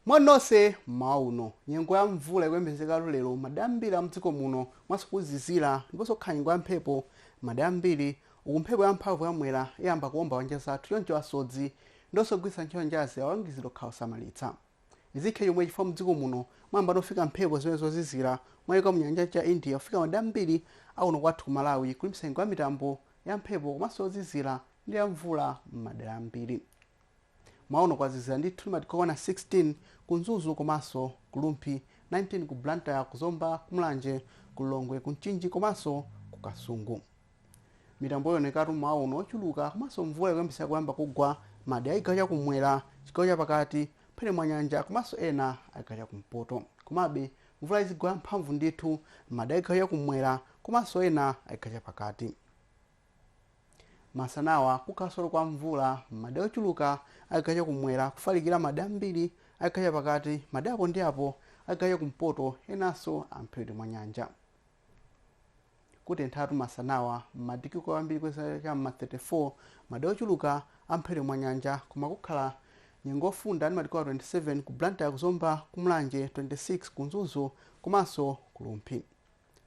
moni nonse mmawa uno nyengo ya mvula ikuyembekezeka lero madera ambiri a mdziko muno komanso kuzizira ndiponso kukhala nyengo ya mphepo madera ambiri uku mphepo ya mphamvu ya mwera iyamba kuomba pa nyanja zathu choncho asodzi ndiponso ogwiritsa ntchito nyanjazi akulangizidwa kukhala osamalitsa Izi zikhale chomwechi chifukwa mdziko muno mwayambano kufika mphepo zimene zozizira kumayiko amu nyanja cha India kufika madera ambiri akuno kwathu ku Malawi kulimbitsa nyengo ya mitambo ya mphepo komanso yozizira ndi ya mvula mmadera ambiri. Mmawa uno kwazizira ndithu ndi madigiri okwana 16 ku Mzuzu komanso ku Rumphi, 19 ku Blantyre, ku Zomba, ku Mulanje, ku Lilongwe, ku Mchinji komanso ku Kasungu. Mitambo iwonekatu mmawa uno ochuluka komanso mvula ikuyembekezeka kuyamba kugwa mmadera achigawo chakumwera, chigawo chapakati, mphepete mwa nyanja komanso ena achigawo chakumpoto. Komabe mvula izigwa yamphamvu ndithu mmadera achigawo chakumwera komanso ena achigawo chapakati. Masanawa kukhalanso kwa mvula mmadera ochuluka achigawo chakumwera kufalikira mmadera ambiri achigawo chapakati, madera apo ndi apo achigawo chakumpoto enanso amphepete mwa nyanja. Kutenthatu masanawa. M'madigiri kwambiri kweza cha m'ma 34, madera ochuluka a mphepete mwa nyanja koma kukhala nyengo yofunda ndi madigiri okwana 27 ku Blantyre, ku Zomba, ku Mulanje, 26 ku Mzuzu komanso ku Rumphi.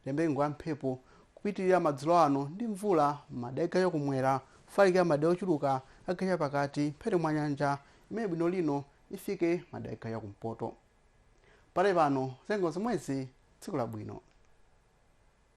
Tiyembekeze nyengo ya mphepo kupitirira madzulo ano ndi mvula m'madera a chigawo cha kumwera kufalikira madera ochuluka a chigawo cha pakati mphepete mwa nyanja imene bwino lino ifike madera a chigawo cha kumpoto. Pakali pano za nyengo zomwezi tsiku labwino.